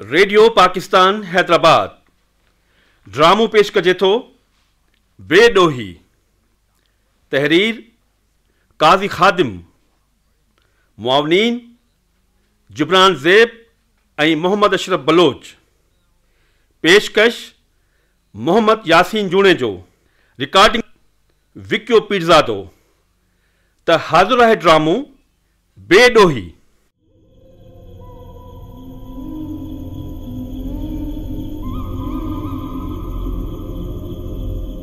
Radio Pakistan Hyderabad ڊرامو پيش ڪجي ٿو بي ڏوهي تحرير قاضي خادم معاونين جبران زيب ۽ محمد اشرف بلوچ. پيشڪش، محمد ياسين جوڻيجو. رڪارڊنگ، وڪيو پيرزادو. ته حاضر آهي ڊرامو، بي ڏوهي.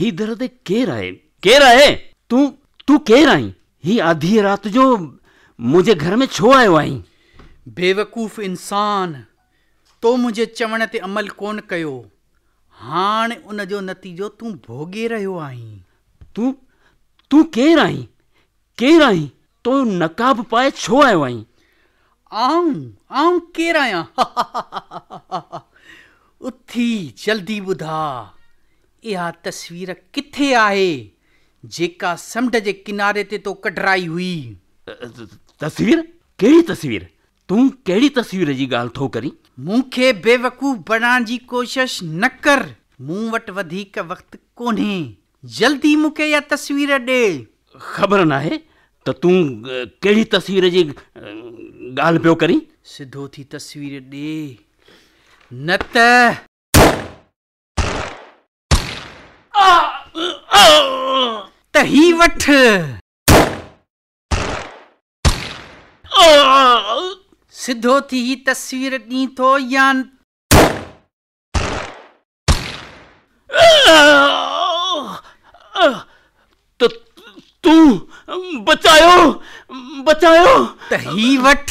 هي در تي ڪير آهي؟ ڪير آهي؟ تون تون ڪير آهين؟ هي آڌيء رات جو منهنجي گهر ۾ ڇو آيو آهين؟ بيوقوف انسان! تو منهنجي چوڻ تي عمل ڪونه ڪيو. هاڻ ان جو نتيجو تون ڀوڳي رهيو آهين. تون تون ڪير آهين؟ ڪير آهين؟ تون نقاب پائي ڇو آيو آهين؟ آئون، آئون ڪير آهيان؟ هههههههههههههههههههههه اٿي جلدي ٻڌاء اها تصوير ڪٿي آهي جيڪا سمنڊ جي ڪناري تي تو ڪڍرائي هئي؟ تصوير؟ ڪهڙي تصوير؟ تون ڪهڙي تصوير جي ڳالهه ٿو ڪرين؟ مون کي بيوقوف بڻائڻ جي ڪوشش نه ڪر، مون وٽ وڌيڪ وقت ڪونهي، جلدي مون کي اها تصوير ڏي. خبر ناهي ته تون ڪهڙي تصوير جي ڳالهه پيو ڪرين. سڌو ٿي تصوير ڏي نه ته. ته هي وٺ. سڌو ٿي هي تصوير ڏين ٿو يا نه. تون بچايو بچايو ته هي وٺ.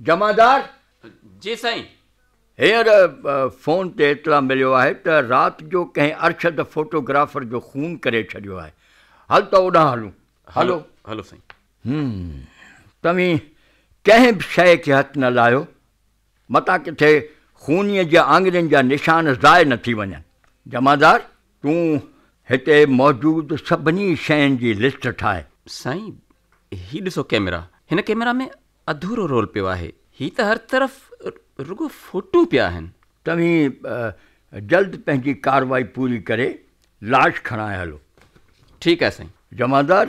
جمعدار، جي سائين! هينئر فون تي اطلاع مليو آهي ته رات جو ڪنهن ارشد فوٽو گرافر جو خون ڪري ڇڏيو آهي. هل ته اوڏانهن هلون. هلو. هلو سائين. هم. توهين ڪنهن به شيء کي هٿ نه لاهيو، متان ڪٿي خونيء جي آڱرين جا نشان ضايع نه ٿي وڃن. جمعدار، تون هتي موجود سڀني شين جي لسٽ ٺاهه. سائين، هي ڏسو ڪئميرا. هن ڪئميرا ۾ اڌورو رول پيو آهي. هي ته هر طرف رڳو فوٽو پيا آهن. توهين جلد پنهنجي ڪارروائي پوري ڪري لاش کڻائي هلو. ٺيڪ آهي سائين. جمعدار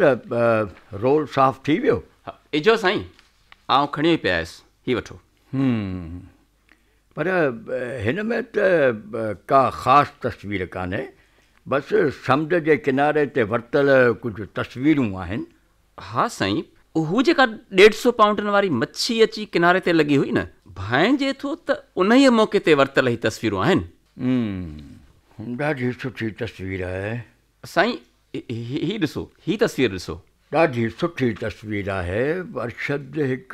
رول صاف ٿي ويو؟ اجهو سائين آئون کڻيو ئي پئي آيس. هي وٺو. هم پر هن ۾ ته ڪا خاص تصوير ڪانهي. بس سمنڊ جي ڪناري تي ورتل ڪجهه تصويرون آهن. ها سائين، هو جيڪا ڏيڍ سو پائونڊن واري مڇي اچي ڪناري تي لڳي هئي نه، ڀانئجي ٿو ته انهيء موقعي تي ورتل هي تصويرون آهن. هوم، ڏاڍي سٺي تصوير آهي. سائين، هي ڏسو، هي تصوير ڏسو. ڏاڍي سٺي تصوير آهي. ارشد هڪ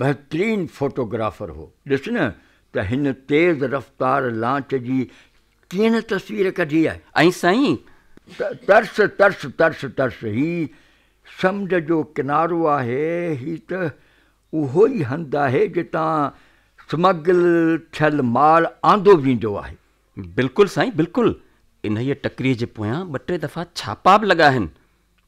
بهترين فوٽوگرافر هو. ڏس نه ته هن تيز رفتار لانچ جي ڪينه تصوير ڪڍي آهي. ۽ سائين! ترس ترس ترس ترس هي سمنڊ جو ڪنارو آهي، هي ته اهو ئي هنڌ آهي جتان سمگل ٿيل مال آندو ويندو آهي. بلڪل سائين بلڪل، انهيء ٽڪريء جي پويان ٻه ٽي دفعا ڇاپا به لڳا آهن،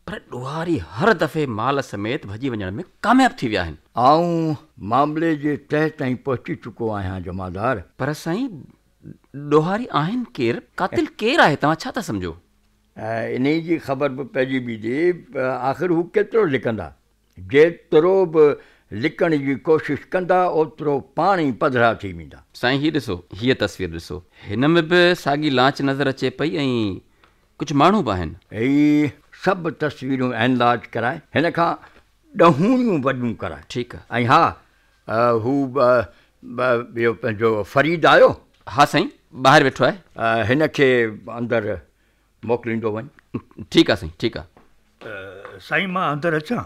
پر ڏوهاري هر دفعي مال سميت ڀڄي وڃڻ ۾ ڪامياب ٿي ويا آهن. آئون معاملي جي تهه تائين پهچي چڪو آهيان جمعدار. پر سائين ڏوهاري آهن ڪير؟ قاتل ڪير آهي؟ توهان ڇا ٿا سمجهو؟ انهيء جي خبر به پئجي بيهندي. آخر هو ڪيترو لڪندا؟ جيترو به لڪڻ جي ڪوشش ڪندا، اوترو پاڻ ئي پڌرا ٿي ويندا. سائين هي ڏسو، هيء تصوير ڏسو. هن ۾ به ساڳي لانچ نظر اچي پئي ۽ ڪجهه ماڻهو به آهن. هي سڀ تصويرون اينلارج ڪرائي، هن کان ڏهونيون وڏيون ڪرائي. ٺيڪ آهي. ۽ ها، هو ٻيو پنهنجو فريد آيو؟ ها سائين، ٻاهر ويٺو آهي. هن کي اندر موڪليندو وڃ. ٺيڪ آهي سائين، ٺيڪ آهي. سائين مان اندر اچان؟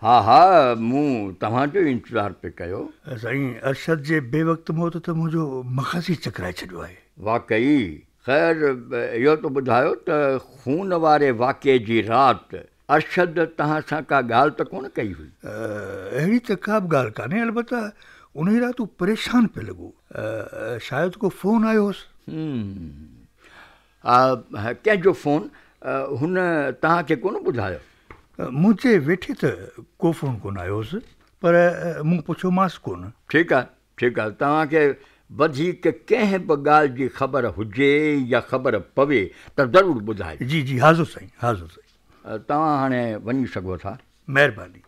ها ها، مون توهان جو ئي انتظار پئي ڪيو. سائين ارشد جي بي وقت موت ته منهنجو مغز ئي چڪرائي ڇڏيو آهي. واقعي؟ خير اهو ته ٻڌايو ته خون واري واقعي جي رات ارشد توهان سان ڪا ڳالهه ته ڪونه ڪئي هئي؟ اهڙي ته ڪا به ڳالهه ڪانهي البته انهيء رات هو پريشان پئي لڳو. شايد ڪو فون آيو هوس. هوم. ڪنهن جو فون؟ هن توهان کي ڪونه ٻڌايو؟ منهنجي ويٺي ته ڪو فون ڪونه آيو هوس پر مون پڇيومانس ڪونه. ٺيڪ آهي ٺيڪ آهي، توهان کي وڌيڪ ڪنهن به ڳالهه جي خبر هجي يا خبر پوي ته ضرور ٻڌائجو. جي جي حاضر سائين حاضر سائين. توهان هاڻي وڃي سگهو ٿا. مهرباني.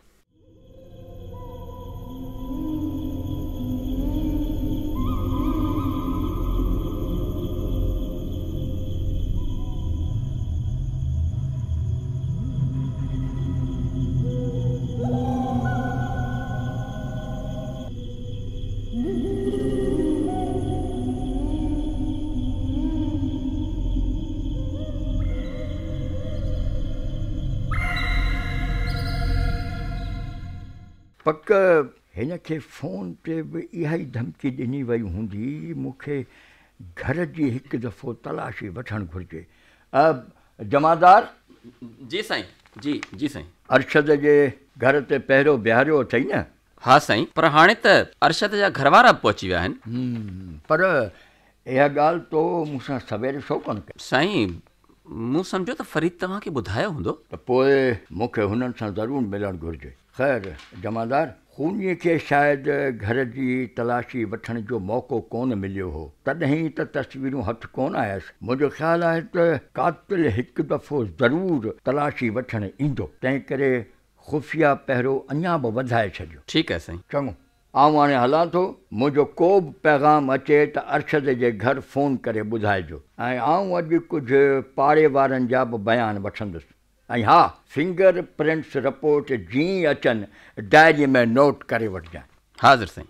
پڪ هن کي فون تي به اها ئي ڌمڪي ڏني وئي هوندي، مون کي گهر جي هڪ دفعو تلاشي وٺڻ گهرجي. جمعدار! جي سائين، جي جي سائين. ارشد جي گهر تي پهرو بيهاريو اٿئي نه؟ ها سائين پر هاڻي ته ارشد جا گهروارا به پهچي ويا آهن. پر اها ڳالهه تو مون سان سوير ڇو ڪونه ڪئي؟ سائين مون سمجهيو ته فريد توهان کي ٻڌايو هوندو. ته پوء مون کي هنن سان ضرور ملڻ گهرجي. خير جمعدار خونيء کي شايد گهر جي تلاشي وٺڻ جو موقعو ڪونه مليو هو تڏهن ته تصويرون هٿ ڪونه آيس. منهنجو خيال آهي ته قاتل هڪ دفعو ضرور تلاشي وٺڻ ايندو تنهنڪري خفيه پهرو اڃا به وڌائي ڇڏيو. ٺيڪ آهي سائين. چڱو، آئون هاڻي هلان ٿو. منهنجو ڪو به پيغام اچي ته ارشد جي گهر فون ڪري ٻڌائجو ۽ آئون اڄ ڪجهه پاڙي وارن جا به بيان وٺندس ۽ ها فنگر پرنٽس رپورٽ جيئن ئي اچن ڊائري ۾ نوٽ ڪري وٺجان. حاضر سائين.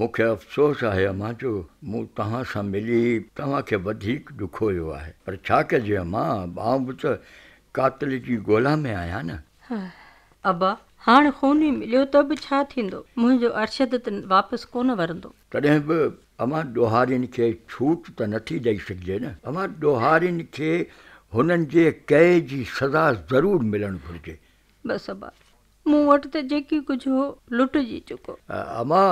مون کي افسوس آهي امان جو مون توهان سان ملي توهان کي وڌيڪ ڏکويو آهي پر ڇا ڪجي امان آئون به ته قاتل جي ڳولا ۾ آهيان نه. هاء ابا هاڻ خوني مليو ته به ڇا ٿيندو منهنجو ارشد ته واپس ڪونه ورندو. تڏهن به اوهان ڏوهارين کي ڇوٽ ته نه ٿي ڏئي سگهجي نه. اوهان ڏوهارين کي هنن جي ڪئي جي سزا ضرور ملڻ گهرجي. بس ابا، مون وٽ ته جيڪي ڪجهه هو، لٽجي چڪو. اما،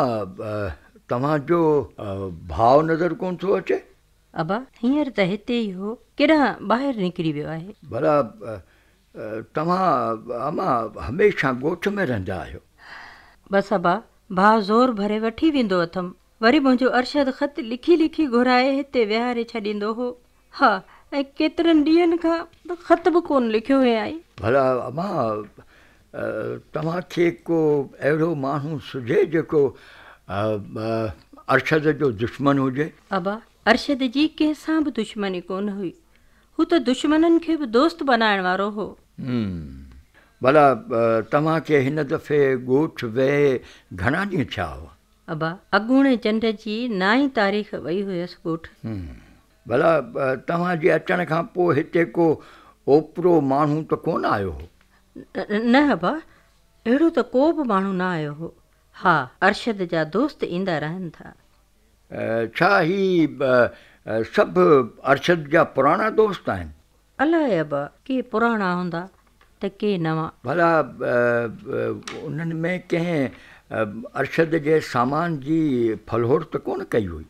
توهان جو ڀاء نظر ڪونه ٿو اچي؟ ابا، هينئر ته هتي ئي هو، ڪيڏانهن ٻاهر نڪري ويو آهي. ڀلا، توهان امان هميشه ڳوٺ ۾ رهندا آهيو؟ بس ابا، ڀاء زور ڀري وٺي ويندو اٿم. وري منهنجو ارشد خط لکي لکي گهرائي هتي ويهاري ڇڏيندو هو. ها، ۽ ڪيترن ڏينهن کان ته خط به ڪونه لکيو هيائين. ڀلا امان، توهان کي ڪو اهڙو ماڻهو سجهي جيڪو ارشد جو دشمن هجي؟ ابا، ارشد جي ڪنهن سان به دشمني ڪونه هئي. هو ته دشمنن کي به دوست بنائڻ وارو هو. هم. ڀلا توهان کي هن دفعي ڳوٺ ويهي گهڻا ڏينهن ٿيا هئا؟ ابا، اڳوڻي چنڊ جي نائين تاريخ وئي هيس ڳوٺ. هم. ڀلا توهان جي اچڻ کان پوء هتي ڪو اوپرو ماڻهو ته ڪو نه آيو هو؟ نه ابا، اهڙو ته ڪو به ماڻهو نه آيو هو. ها، ارشد جا دوست ايندا رهن ٿا. ڇا هي سڀ ارشد جا پراڻا دوست آهن؟ الاهيب ڪي پراڻا هوندا ته ڪي نوان. ڀلا انهن ۾ ڪنهن ارشد جي سامان جي ڦلهوٽ ته ڪونه ڪئي هئي؟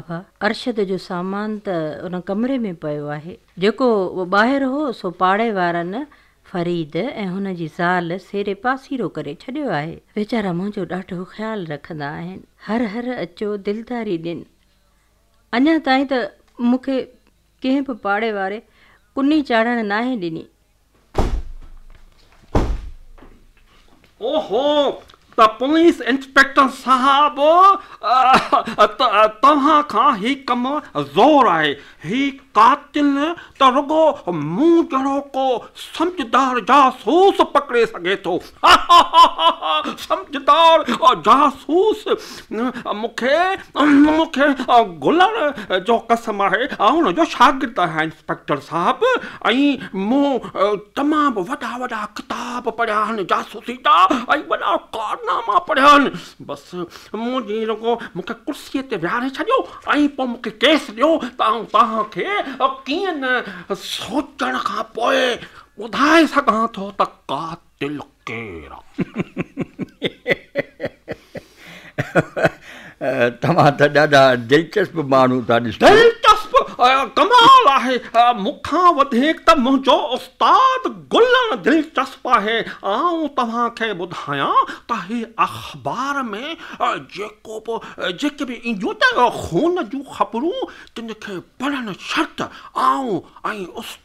ابا ارشد جو سامان ته ان ڪمري ۾ پيو آهي. جيڪو ٻاهر هو سو پاڙي وارن فريد ۽ هن جي زال سيري پاسيرو ڪري ڇڏيو آهي. ويچارا منهنجو ڏاڍو خيال رکندا آهن. هر هر اچو دلداري ڏين. اڃا تائين ته مون کي ڪنهن به پاڙي واري ڪني چاڙهڻ ناهي ڏني. اوهو، ته پوليس انسپيڪٽر صاحب، توهان کان هي ڪم زور آهي. هي قاتل ته رڳو مون جهڙو ڪو سمجهدار جاسوس پڪڙي سگهي ٿو. هاهاها، سمجهدار جاسوس! مون کي، مون کي گلڻ جو قسم آهي، آئون هن جو شاگرد آهيان انسپيڪٽر صاحب ۽ مون تمام وڏا وڏا ڪتاب پڙهيا آهن، جاسوسي جا ۽ وڏا ڪارناما پڙهيا آهن. بس منهنجي رڳو مون کي ڪرسيء تي ويهاري ڇڏيو ۽ پوء مون کي ڪيس ڏيو ته آئون توهان کي ڪيئن نه سوچڻ کان پوء ٻڌائي سگهان ٿو ته قاتل ڪير آ؟ توهان ته ڏاڍا دلچسپ ماڻهو ٿا ڏسجو. دلچسپ؟ ڪمال آهي. مون کان وڌيڪ ته منهنجو استاد گلڻ دلچسپ آهي. آئون توهان کي ٻڌايان ته هي اخبار ۾ جيڪو به جيڪي به اينديون ته خون جون خبرون تن کي پڙهڻ شرط آئون ۽ استاد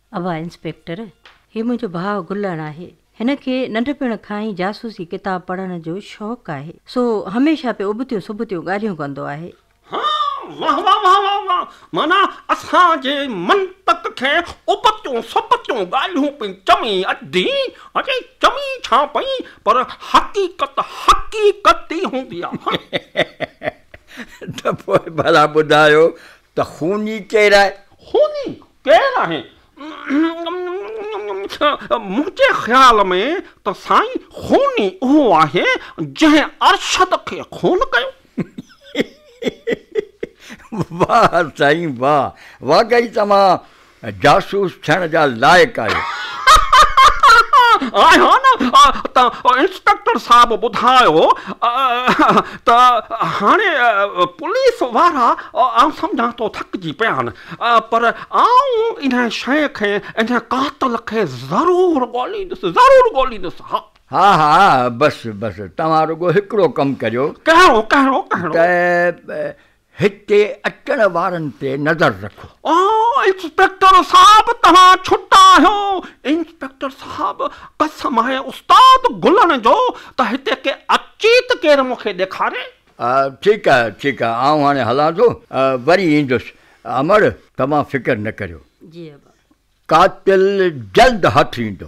اڀا انسپيڪٽر، هي منهنجو ڀاء گلڻ آهي. هن کي ننڍپڻ کان ئي جاسوسي ڪتاب پڙهڻ جو شوق آهي. سو هميشه پيو ابتيون سبتيون ڳالهيون ڪندو آهي. ها، واه واه واه واه واه، معنيٰ اسان جي منطق کي ابتيون سبتيون ڳالهيون پئي چوي ادي، اڙي چوي ڇا پئي، پر حقيقت حقيقت ئي هوندي آهي. ته پوء ڀلا ٻڌايو ته خوني ڪير آهي؟ خوني ڪير آهي؟ منهنجي خيال ۾ ته سائين خوني اهو آهي جنهن ارشد کي خون ڪيو. واهه سائين واهه واقعي توهان جاسوس ٿيڻ جا لائق آهيو. آهيان نه ته انسپيڪٽر صاحب ٻڌايو ته هاڻي پوليس وارا آئون سمجهان ٿو ٿڪجي پيا آهن پر آئون ان شيء کي ان قاتل کي ضرور ڳوليندس ضرور ڳوليندس ها. ها ها بس بس توهان رڳو هڪڙو ڪم ڪريو. ڪهڙو ڪهڙو ڪهڙو؟ ته هتي اچڻ وارن تي نظر رکو. آء انسپيڪٽر صاحب توهان ڇٽ آهيو. انسپيڪٽر صاحب قسم آهي استاد گلڻ جو ته هتي ڪي اچي ته ڪير مون کي ڏيکاري. ٺيڪ آهي ٺيڪ آهي آئون هاڻي هلان ٿو وري ايندس امڙ توهان فڪر نه ڪريو. قاتل جلد هٿ ايندو.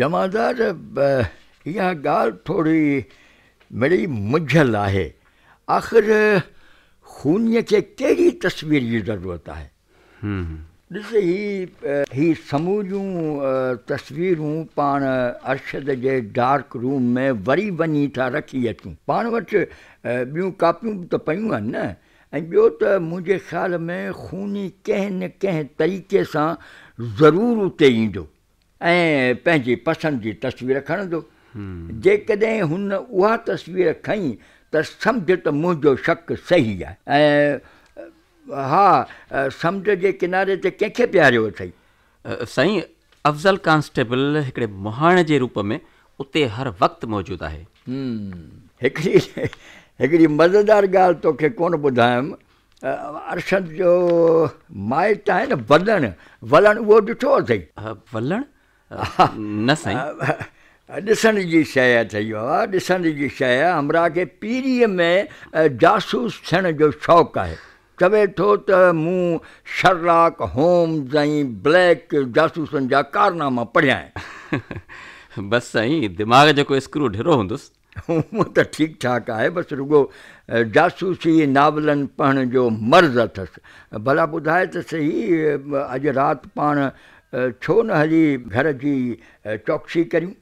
جمعدار، اها ڳالهه ٿوري مڙئي منجهيل آهي. آخر خونيء کي ڪهڙي تصوير جي ضرورت آهي؟ ڏس هي هي سموريون تصويرون پاڻ ارشد جي ڊارڪ روم ۾ وري وڃي ٿا رکي اچون. پاڻ وٽ ٻيون ڪاپيون به ته پيون آهن نه. ۽ ٻيو ته منهنجي خيال ۾ خوني ڪنهن نه ڪنهن طريقي سان ضرور اتي ايندو. ۽ پنهنجي پسند جي تصوير کڻندو. جيڪڏهن هن اها تصوير کنئي ته سمجهه ته منهنجو شڪ صحيح آهي. ۽ ها، سمنڊ جي ڪناري تي ڪنهن کي بيهاريو اٿئي؟ سائين، افضل ڪانسٽيبل هڪڙي مهاڻي جي روپ ۾ اتي هر وقت موجود آهي. هڪڙي هڪڙي مزيدار ڳالهه توکي ڪونه ٻڌايم. ارشد جو مائٽ آهي نه ولڻ، ولڻ اهو ڏٺو اٿئي؟ ولڻ؟ نه سائين. ڏسڻ جي شيء اٿئي بابا، ڏسڻ جي شيء. همراهه کي پيريء ۾ جاسوس ٿيڻ جو شوق آهي. چوي ٿو ته مون شرلاڪ هومز ۽ بليڪ جاسوسن جا ڪارناما پڙهيا آهن. بس سائين، دماغ جو ڪو اسڪرو ڍرو هوندس. هونئن ته ٺيڪ ٺاڪ آهي، بس رڳو جاسوسي ناولن پڙهڻ جو مرض اٿس. ڀلا ٻڌاء ته سهي اڄ رات پاڻ ڇو نه هلي گهر جي چوڪسي ڪريون؟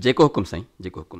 جيڪو حڪم سائين، جيڪو حڪم.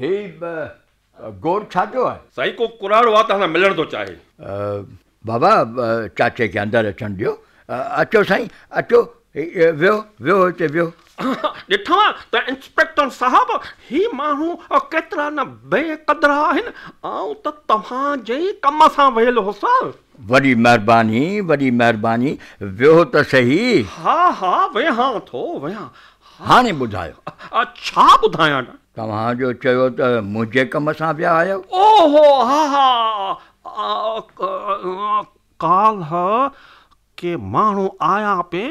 هي گور ڇا پيو آهي؟ سائين ڪو ڪراڙو آ توهان سان ملڻ ٿو چاهي. بابا چاچي کي اندر اچڻ ڏيو. اچو سائين اچو ويهو ويهو هتي ويهو. ڏٺو ته انسپيڪٽر صاحب هي ماڻهو ڪيترا نه بي قدر آهن آئون ته توهان جي ڪم سان ويل هوس. وڏي مهرباني وڏي مهرباني ويهو ته سهي. ها ها ويهان ٿو ويهان. هاڻي ٻڌايو. ڇا ٻڌايان. توهان جو چيو ته منهنجي ڪم سان ويا آهيو. او هو ها ها ڪالهه ڪي ماڻهو آيا پي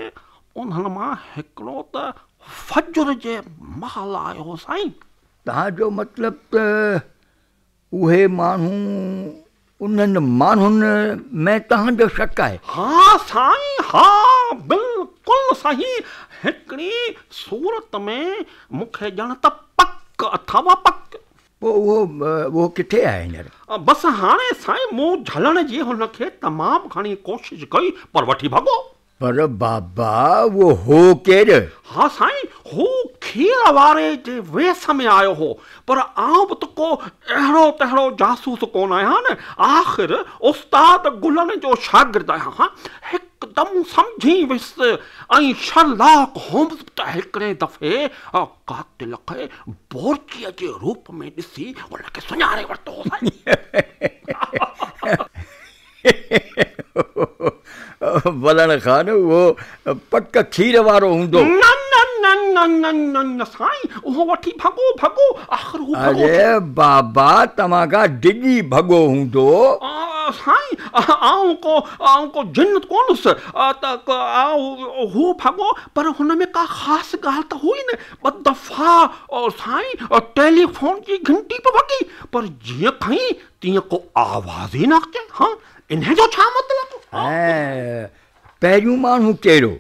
انهن مان هڪڙو ته فجر جي مهل آيو هو سائين. توهان جو مطلب ته اهي ماڻهو انهن ماڻهن ۾ توهان جو شڪ آهي؟ ها سائين ها بلڪل صحيح هڪڙي صورت ۾ مون کي ڄڻ ته پڪ اٿو پڪ. پوء اهو اهو ڪٿي آهي هينئر؟ بس هاڻي سائين مون جهلڻ جي هن کي تمام گهڻي ڪوشش ڪئي پر وٺي ڀڳو. پر بابا اهو هو ڪير؟ ها سائين، هو کير واري جي ويس ۾ آيو هو، پر آئون به ته ڪو اهڙو تهڙو جاسوس ڪونه آهيان نه، آخر استاد گلن جو شاگرد آهيان، هڪدم سمجهي ويس ۽ شرلاڪ هومز به ته هڪڙي دفعي قاتل کي بورچيء جي روپ ۾ ڏسي ان کي سڃاڻي ورتو هو سائين. ولڻ خان اهو پڪ کير وارو هوندو. نه نه نه نه نه نه نه سائين اهو وٺي ڀڳو ڀڳو آخر هو ڀڳو ٿي. اري بابا توهان کان ڊڄي ڀڳو هوندو. سائين آئون ڪو آئون ڪو جن ڪون هوس ته آئون هو ڀڳو پر هن ۾ ڪا خاص ڳالهه ته هئي نه ٻه دفعا سائين ٽيليفون جي گهنٽي به وڳي پر جيئن کئين تيئن ڪو آواز ئي نه اچي ها انهي جو ڇا مطلب؟ پهريون ماڻهو ڪهڙو؟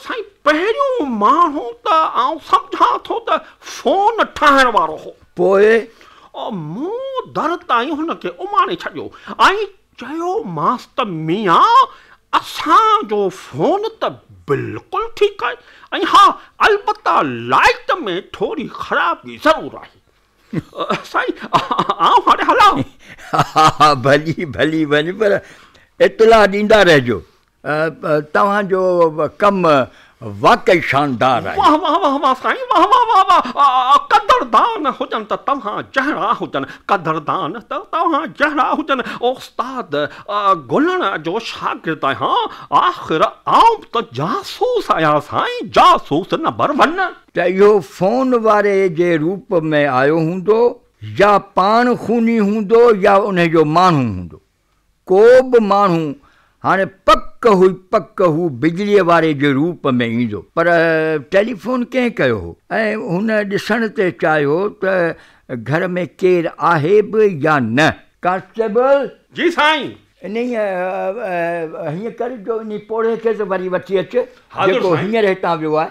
سائين پهريون ماڻهو ته آئون سمجهان ٿو ته فون ٺاهڻ وارو هو. پوء؟ مون در تائين هن کي اماڻي ڇڏيو ۽ چيومانس ته ميان اسان جو فون ته بلڪل ٺيڪ آهي ۽ ها البته لائيٽ ۾ ٿوري خرابي ضرور آهي. سائين آئون هاڻي هلان؟ ها ها ڀلي ڀلي وڃ پر اطلاع ڏيندا رهجو. توهان جو ڪم واقعي شاندار آهي. واه واه واه واه سائين واه واه واه واه قدردان هجن ته توهان جهڙا هجن قدردان ته توهان جهڙا هجن استاد گلڻ جو شاگرد آهيان آخر آئون به ته جاسوس آهيان سائين جاسوس نمبر ون. ته اهو فون واري جي روپ ۾ آيو هوندو يا پاڻ خوني هوندو يا انهي جو ماڻهو هوندو. ڪو به ماڻهو هاڻي پڪ هئي پڪ هو بجليء واري جي روپ ۾ ايندو. پر ٽيليفون ڪنهن ڪيو هو؟ ۽ هن ڏسڻ تي چاهيو ته گهر ۾ ڪير آهي به يا نه. ڪانسٽيبل! جي سائين! انهيء هيئن ڪر جو انهي پوڙهي کي ته وري وٺي اچ، جيڪو هينئر هتان ويو آهي.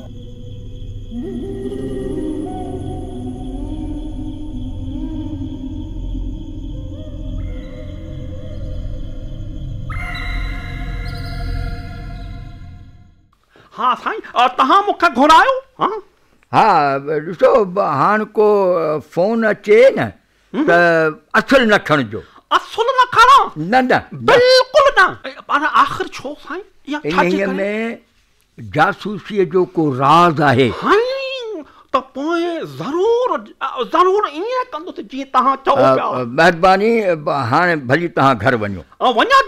ها سائين توهان مون کي گهرايو ها ڏسو هاڻ ڪو فون اچي نه ته اصل نه کڻجو اصل نه کڻا نه نه بلڪل نه پر آخر ڇو سائين ان ۾ جاسوسيء جو ڪو راز آهي. هائين، ته پوء ضرور، ضرور ائين ڪندس جيئن توهان چئو پيا. مهرباني، هاڻي ڀلي توهان گهر وڃو. وڃن.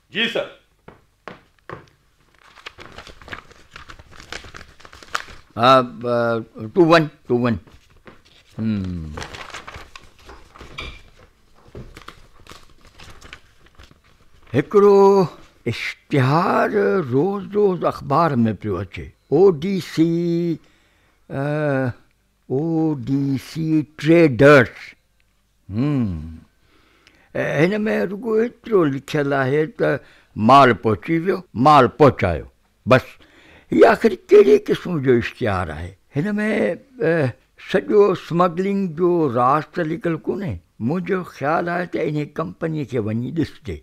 جي سر. ها تون وڃ تون وڃ هڪڙو اشتهار روز روز اخبار ۾ پيو اچي O D C O D C traders هم. هن ۾ رڳو ايترو لکيل آهي ته مال پهچي ويو، مال پهچايو، بس. هي آخر ڪهڙي قسم جو اشتهار آهي؟ هن ۾ سڄو اسمگلنگ جو راز ته لڪل ڪونهي؟ منهنجو خيال آهي ته انهي ڪمپني کي وڃي ڏسجي.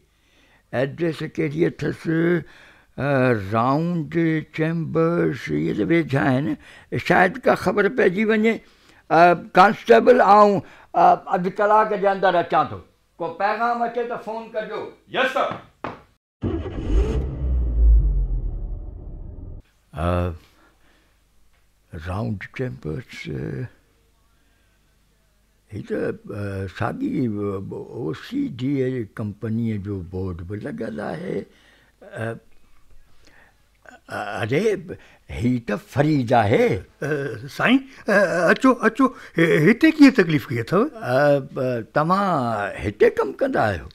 ايڊريس ڪهڙي اٿس رائونڊ چيمبرس اهي ته ويجها آهن شايد ڪا خبر پئجي وڃي ڪانسٽيبل آئون اڌ ڪلاڪ جي اندر اچان ٿو ڪو پيغام اچي ته فون ڪجو. Yes sir. رائونڊ چيمبرس هي ته ساڳي او سي ڊي اي ڪمپنيء جو بورڊ به لڳل آهي. اري هي ته فريد آهي. سائين اچو اچو هتي ڪيئن تڪليف ڪئي اٿئو. توهان هتي ڪم ڪندا آهيو؟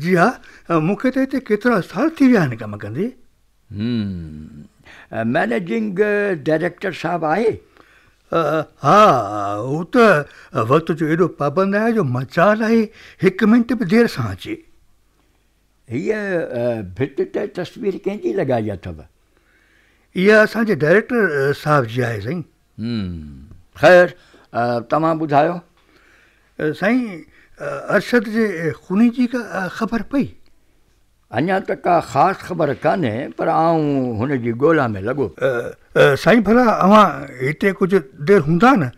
جي ها مون کي ته هتي ڪيترا سال ٿي ويا آهن ڪم ڪندي. هم. مئنيجنگ ڊائريڪٽر صاحب آهي؟ ها. هو ته وقت جو ايڏو پابند آهي جو مجال آهي هڪ منٽ به دير سان اچي. هيء ڀت تي تصوير ڪنهن جي لڳائي اٿو؟ اها اسان جي ڊائريڪٽر صاحب جي آهي سائين. هم. خير توهان ٻڌايو. سائين ارشد جي خوني جي ڪا خبر پئي؟ اڃا ته ڪا خاص خبر ڪانهي پر آئون هن جي ڳولا ۾ لڳو پيو آهيان. سائين ڀلا اوهان هتي ڪجهه دير هوندا نه؟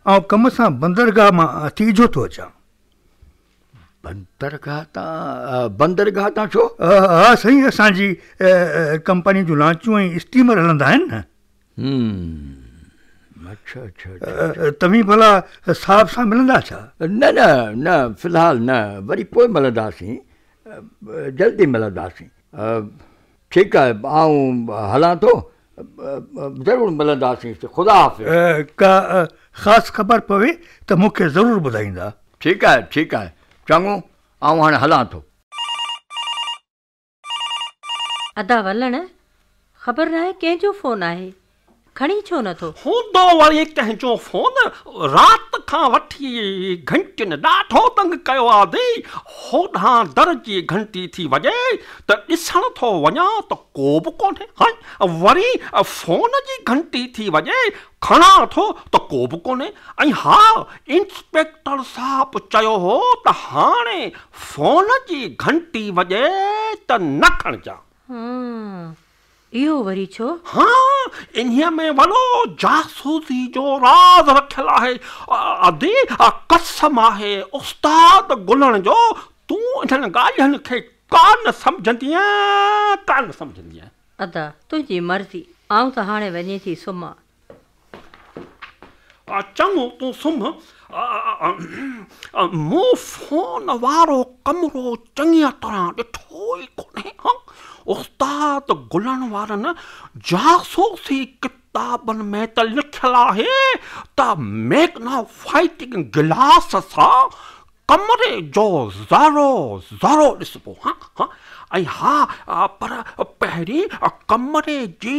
آئون ڪم سان بندرگاهه مان تيجهو ٿو اچان. بندرگاهه تان؟ بندرگاهه تان ڇو؟ ها سائين اسان جي ڪمپني جون لانچون ۽ اسٽيمر هلندا آهن نه. توهين ڀلا صاحب سان ملندا ڇا؟ نه نه نه في الحال نه وري پوء ملنداسين جلد ئي ملنداسين. ٺيڪ آهي آئون هلان ٿو ضرور ملنداسين خدا حافظ. ڪا خاص خبر پوي ته مون کي ضرور ٻڌائيندا. ٺيڪ آهي ٺيڪ آهي چڱو آئون هاڻي هلان ٿو. ادا ولڻ، خبر ناهي ڪنهن جو فون آهي، کڻي ڇو نه ٿو؟ هوندو وڙي ڪنهن جو فون، رات کان وٺي گهنٽين ڏاڍو تنگ ڪيو آ دي، هوڏانهن در جي گهنٽي ٿي وڄي ته ڏسڻ ٿو وڃان ته ڪوبه ڪونهي، هائي وري فون جي گهنٽي ٿي وڄي، کڻان ٿو ته ڪوبه ڪونهي ۽ ها انسپيڪٽر صاحب چيو هو ته هاڻي فون جي گهنٽي وڄي ته نه کڻجان. هان، اهو وري ڇو؟ هان، انهيء ۾ وڏو جاسوسيء جو راز رکيل آهي. ادي، قسم آهي استاد گلڻ جو، تون انهن ڳالهين کي ڪا نه سمجهندينء، ڪا نه سمجهندينء. ادا، تنهنجي مرضي، آئون ته هاڻي وڃي ٿي سمهان. چڱو تون سمهه، مون فون وارو ڪمرو چڱيء طرح ڏٺو ئي ڪونهي. استاد گلڻ وارن جاسوسي ڪتابن ۾ ته لکيل آهي ته ميگنافائٽنگ گلاس سان ڪمري جو ذرو ذرو ڏسبو ۽ ها پر پهرين ڪمري جي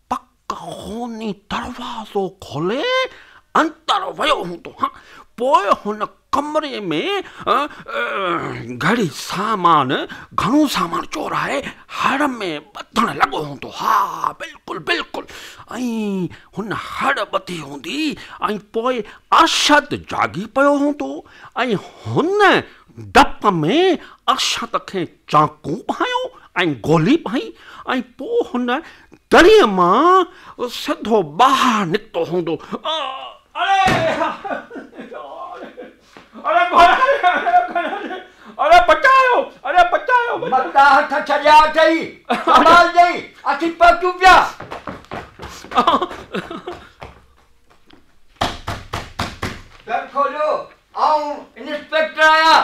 پڪ خوني دروازو کولي اندر ويو هوندو ها، پوء هن ڪمري ۾ گهڙي سامان، گهڻو سامان چورائي هڙ ۾ ٻڌڻ لڳو هوندو، ها بلڪل بلڪل ائين هن هڙ ٻڌي هوندي ۽ پوء ارشد جاڳي پيو هوندو ۽ هن ڊپ ۾ ارشد کي چانڪو ڀانيو ۽ گولي پائي ۽ پوء هن دڙي مان سڌو ٻاهر نڪتو هوندو. متا هٿ ڇڏيا اٿئي، سنڀالجئي، اسين پهچون پيا. در کوليو، آئون انسپيڪٽر آهيان.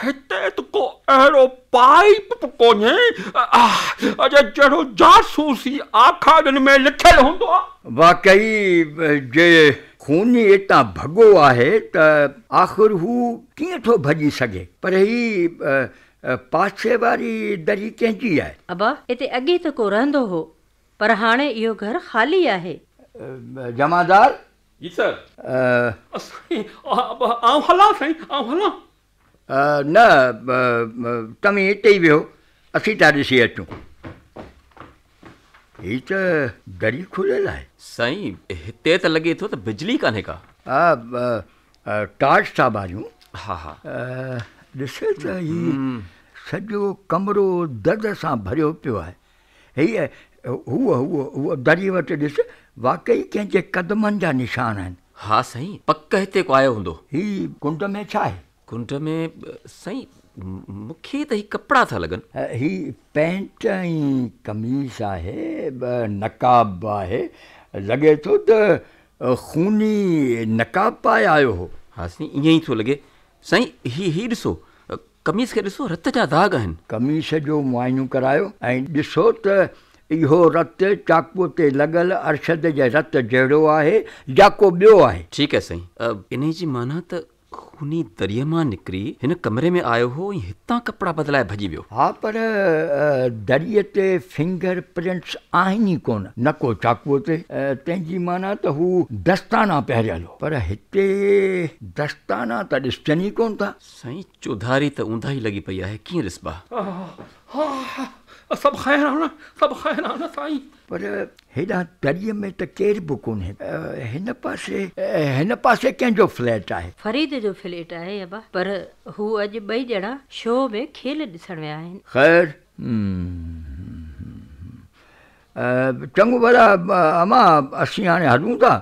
هتي ته ڪو اهڙو پائپ به ڪونهي، اجي جهڙو جاسوسي آکاڙين ۾ لکيل هوندو آ. واقعي جي خوني ايتان ڀڳو آهي ته آخر هو ڪيئن ٿو ڀڄي سگهي. پر هي پاسي واري دري ڪنهن جي آهي؟ ابا اتي اڳي ته ڪو رهندو هو، پر هاڻي اهو گهر خالي آهي. جمعدار جي سر. ا. سائين آئون هلان سائين آئون هلان. ا. نه توهين هتي ئي ويهو اسين ٿا ڏسي اچون. هي ته دري کليل آهي. سائين هتي ته لڳي ٿو ته بجلي ڪانهي ڪا. ا. ٽارچ ٿا ٻاريون. ها ها. ا. ڏسي ته هي سڄو ڪمرو دد سان ڀريو پيو آهي. هيء، هوء، هوء، هوء دريء وٽ ڏس، واقعي ڪنهن جي قدمن جا نشان آهن. ها سائين، پڪ هتي ڪو آيو هوندو. هي ڪنڊ ۾ ڇا آهي؟ ڪنڊ ۾، سائين، مون کي ته هي ڪپڙا ٿا لڳن. هي پينٽ ۽ قميص آهي، نقاب به آهي، لڳي ٿو ته خوني نقاب پائي آيو هو. ها سائين، ائين ئي ٿو لڳي. سائين، هي، هي ڏسو، قميص کي ڏسو رت جا داغ آهن. قميص جو معائنو ڪرايو ۽ ڏسو ته اهو رت چاقوء تي لڳل ارشد جي رت جهڙو آهي يا ڪو ٻيو آهي. ٺيڪ آهي سائين. انهيء جي معنيٰ ته خوني دريء مان نڪري هن ڪمري ۾ آيو هو ۽ هتان ڪپڙا بدلائي ڀڄي ويو. ها پر دريء تي فنگر پرنٽس آهن ئي ڪونه، نه ڪو چاقوء تي. تنهن جي معنيٰ ته هو دستانا پهريل هو. پر هتي دستانا ته ڏسجن ئي ڪونه ٿا. سائين چوڌاري ته اونداهي لڳي پئي آهي ڪيئن رسبا؟ ها ها ها سڀ خيران سڀ خيران سائين. پر هيڏانهن تڙي ۾ ته ڪير به ڪونهي. هن پاسي هن پاسي ڪنهن جو فليٽ آهي؟ فريد جو فليٽ آهي ابا. پر هو اڄ ٻئي ڄڻا شو ۾ کيل ڏسڻ ويا آهن. خير چڱو ڀلا امان اسين هاڻي هلون ٿا.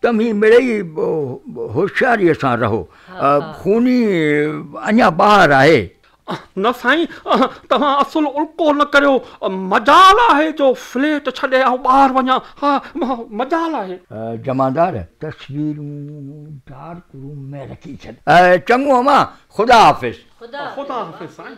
توهين مڙئي هوشياريء سان رهو. خوني اڃا ٻاهر آهي. نه سائين، توهان اصل الڪو نه ڪريو. مجال آهي جو فليٽ ڇڏي آئون ٻاهر وڃان. ها، مجال آهي. جمعدار، تصويرون ڊارڪ روم ۾ رکي ڇڏ. چڱو امان، خدا حافظ. خدا حافظ سائين.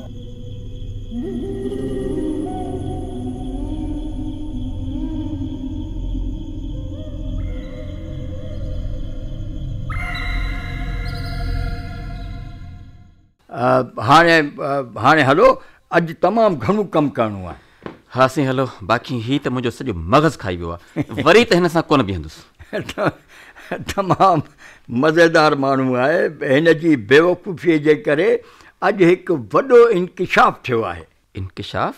هاڻي هلو، اڄ تمام گهڻو ڪم ڪرڻو آهي. ها سائين هلو باقي هي ته منهنجو سڄو مغز کائي ويو آهي وري ته هن سان ڪونه بيهندس. تمام مزيدار ماڻهو آهي هن جي بيوقوفي جي ڪري اڄ هڪ وڏو انڪشاف ٿيو آهي. انڪشاف؟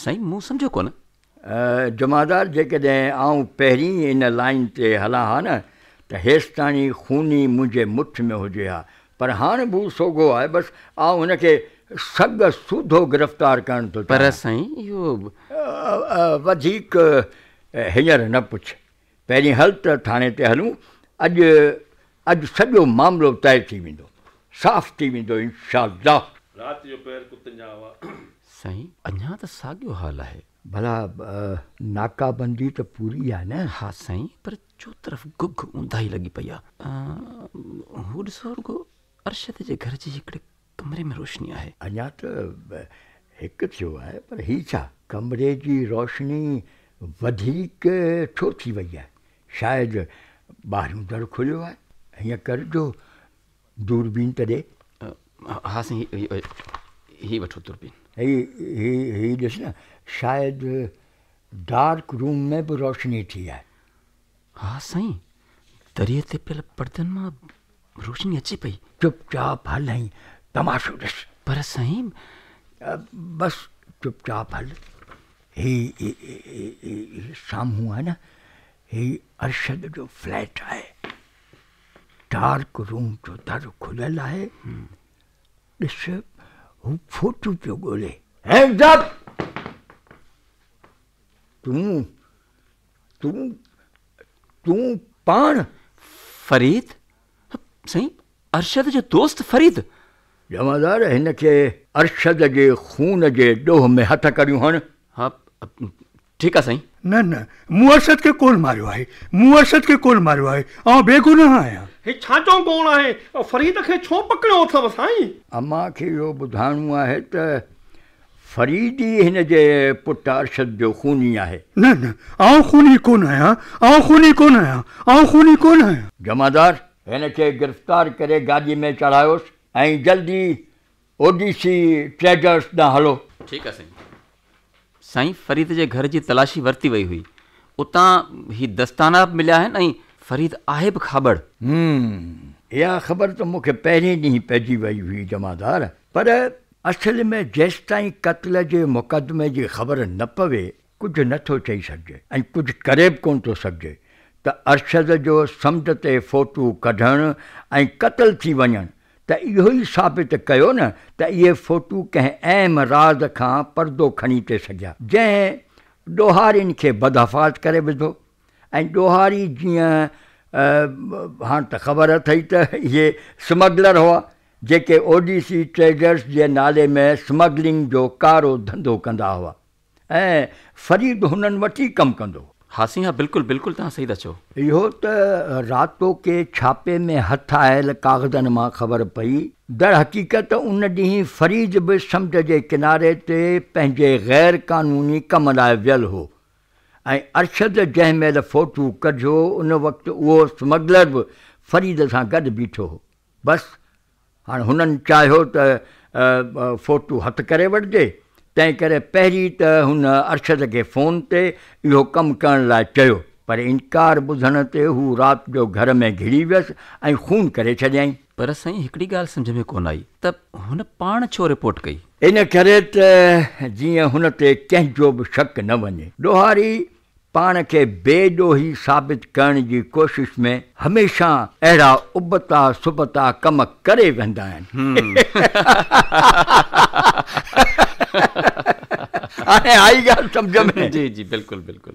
سائين مون سمجهيو ڪونه. جمعدار جيڪڏهن آئون پهرين ان لائين تي هلان ها نه ته هيستائين خوني منهنجي مٺ ۾ هجي ها پر هاڻ به سوگهو آهي بس آئون هن کي سڳ سوڌو گرفتار ڪرڻ ٿو چاهيان. پر سائين اهو به. وڌيڪ هينئر نه پڇ. پهرين هل ته ٿاڻي تي هلون. اڄ اڄ سڄو معاملو طئي ٿي ويندو. صاف ٿي ويندو انشاء الله. رات جو پهر ڪتن جا هوا. سائين اڃا ته ساڳيو حال آهي. ڀلا ناڪابندي ته پوري آهي نه. ها سائين پر چوطرف گگ اونداهي لڳي پئي آ. هو ڏسو رڳو ارشد جي گهر جي هڪڙي ڪمري ۾ روشني آهي. اڃا ته هڪ ٿيو آهي پر هي ڇا؟ ڪمري جي روشني وڌيڪ ڇو ٿي وئي آهي؟ شايد ٻاهريون در کليو آهي. هيئن ڪر جو دوربين تڏي. ها سائين هي وٺو دوربين. هي هي ڏس نه شايد ڊارڪ روم ۾ به روشني ٿي آهي. ها سائين دريء تي پيل پردن مان روشني اچي پئي. چپ چاپ هل ۽ تماشو ڏس. پر سائين. بس چپ چاپ هل. هي سامهون آهي نه هي ارشد جو فليٽ آهي. ڊارڪ روم جو در کليل آهي ڏس هو فوٽو پيو ڳولي. Hands up! تون تون تون پاڻ فريد؟ سائين ارشد جو دوست فريد؟ جمعدار هن کي ارشد جي خون جي ڏوهه ۾ هٿ ڪريون هڻ. ٺيڪ آ سائين. نه نه مون ارشد کي ڪونه ماريو آهي مون ارشد کي ڪونه ماريو آهي آئون بيگناهه آهيان. هي ڇا جو گوڙ آهي فريد کي ڇو پڪڙيو اٿئو سائين. امان کي اهو ٻڌائڻو آهي ته فريد ئي هن جي پٽ ارشد جو خوني آهي. نه نه آئون خوني ڪونه آهيان آئون خوني ڪونه آهيان آئون خوني ڪونه آهيان. جمعدار هن کي گرفتار ڪري گاڏي ۾ چڙهايوس ۽ جلدي او ڊي سي ٽريڊرز ڏانهن هلو. ٺيڪ آ سائين. سائين فريد جي گهر جي تلاشي ورتي وئي هئي اتان هي دستانا به مليا آهن ۽ فريد آهي به کاٻڙ. هوم اها خبر ته مون کي پهرين ڏينهن پئجي وئي هئي جمعدار پر اصل ۾ جيستائين قتل جي مقدمي جي خبر نه پوي ڪجهه نه ٿو چئي سگهجي ۽ ڪجهه ڪري به ڪونه ٿو سگهجي ته ارشد جو سمنڊ تي فوٽو ڪڍڻ ۽ قتل ٿي وڃڻ ته اهو ئي ثابت ڪيو نه ته اهي فوٽو ڪنهن اهم راز کان پردو کڻي تي سگهيا جنهن ڏوهارين کي بدحفاظ ڪري وڌو ۽ ڏوهاري جيئن هاڻ ته خبر اٿئي ته اهي سمگلر هئا جيڪي اوڊيسي ٽريڊرز جي نالي ۾ سمگلنگ جو ڪارو ڌنڌو ڪندا هئا. ۽ فريد هنن وٽ ئي ڪم ڪندو. هاسين، ها بلڪل بلڪل توهان صحيح ٿا چئو. اهو ته راتوڪي ڇاپي ۾ هٿ آيل ڪاغذن مان خبر پئي. در حقيقت ان ڏينهن فريد به سمنڊ جي ڪناري تي پنهنجي غير قانوني ڪم لاء ويل هو ۽ ارشد جنهن مهل فوٽو ڪڍيو ان وقت اهو اسمگلر به فريد سان گڏ بيٺو هو. بس هاڻ هنن چاهيو ته فوٽو هٿ ڪري وٺجي، تنهن ڪري پهرين ته هن ارشد کي فون تي اهو ڪم ڪرڻ لاء چيو، پر انڪار ٻڌڻ تي هو رات جو گهر ۾ گهڙي ويس ۽ خون ڪري ڇڏيائين. پر سائين هڪڙي ڳالهه سمجهه ۾ ڪونه آئي ته هن پاڻ ڇو رپورٽ ڪئي؟ ان ڪري ته جيئن هن تي ڪنهن جو به شڪ نه وڃي. ڏوهاري پاڻ کي بي ڏوهي ثابت ڪرڻ جي ڪوشش ۾ هميشه اهڙا ابتا سبتا ڪم ڪري ويهندا آهن. هاڻي آئي ڳالهه سمجهه ۾. جي جي بلڪل بلڪل.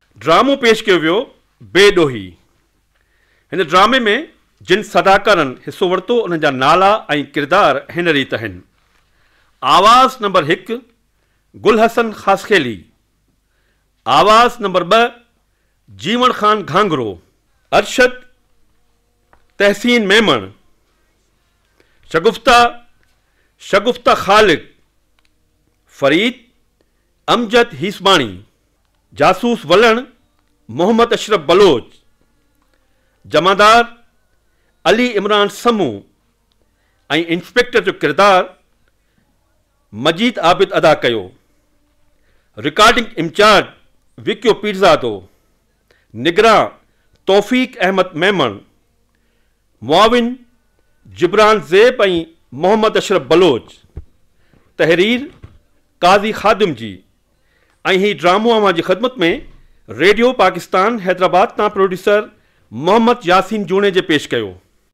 ڊرامو پيش ڪيو ويو بي ڏوهي. هن ڊرامي ۾ جن صداڪارن حصو ورتو انهن جا نالا ۽ ڪردار هن ريت اهن، آواز نمبر هڪ گل حسن خاصخيلي، آواز نمبر ٻه جيوڻ خان گهانگهرو، ارشد تحسين ميمڻ، شگفته شگفته خالق، فريد امجد هيسباڻي، جاسوس ولڻ محمد اشرف بلوچ، جمعدار علي عمران سمون ۽ انسپيڪٽر جو ڪردار مجيد عابد ادا ڪيو. رڪارڊنگ انچارج وڪيو پيرزادو، نگران توفيق احمد ميمڻ، معاون جبران زيب ۽ محمد اشرف بلوچ، تحرير قاضي خادم جي ۽ هي ڊرامو اوهان جي خدمت ۾ ريڊيو پاڪستان حيدرآباد تان پروڊيوسر محمد ياسين جوڻيجي پيش ڪيو.